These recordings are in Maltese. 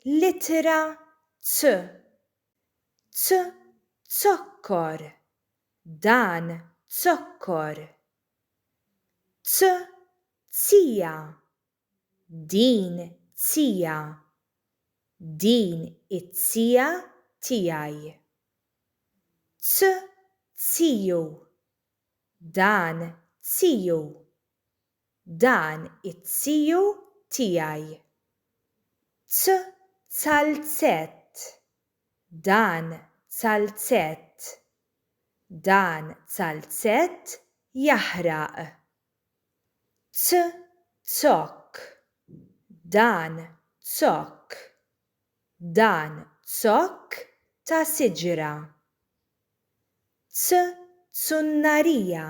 L-ittra C. C Zokkor Dan zokkor. C Zija Din zija. Din iz-zija tiegħi. C Ziju Dan ziju. dan it-tiju tiegħi. T zalzett Dan zalzett Dan zalzett jaħraq. T zokk Dan zokk Dan zokk ta' siġra. T zunnarija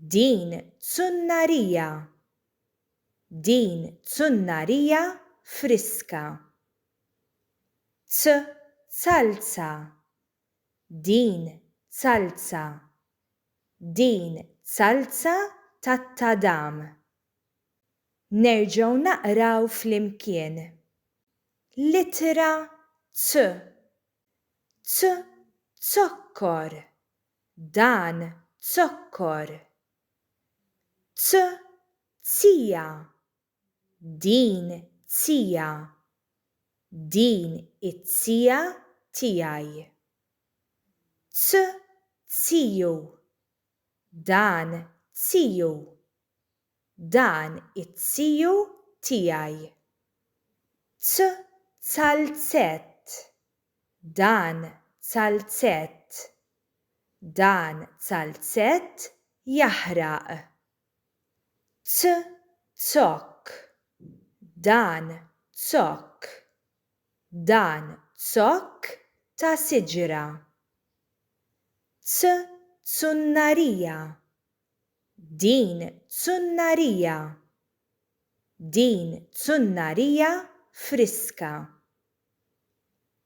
Din zunnarija! Din zunnarija friska! Zzalza! Din zalza! Din zalza tat-tadam! Nerġgħu naqraw flimkien. L-ittra C. C. Zokkor! Dan zokkor. T, zija. Din zija. Din iz-zija tiegħi. T, ziju. Dan ziju. dan it-tiju tiegħi. T zalzett Dan zalzett Dan zalzett jaħraq. T zokk Dan zokk Dan zokk ta' siġra. T zunnarija Din zunnarija! Din zunnarija friska!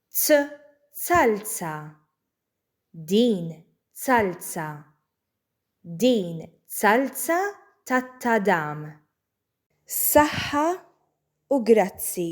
Zzalza! Din zalza! Din zalza tat-tadam! Saħħa u grazzi!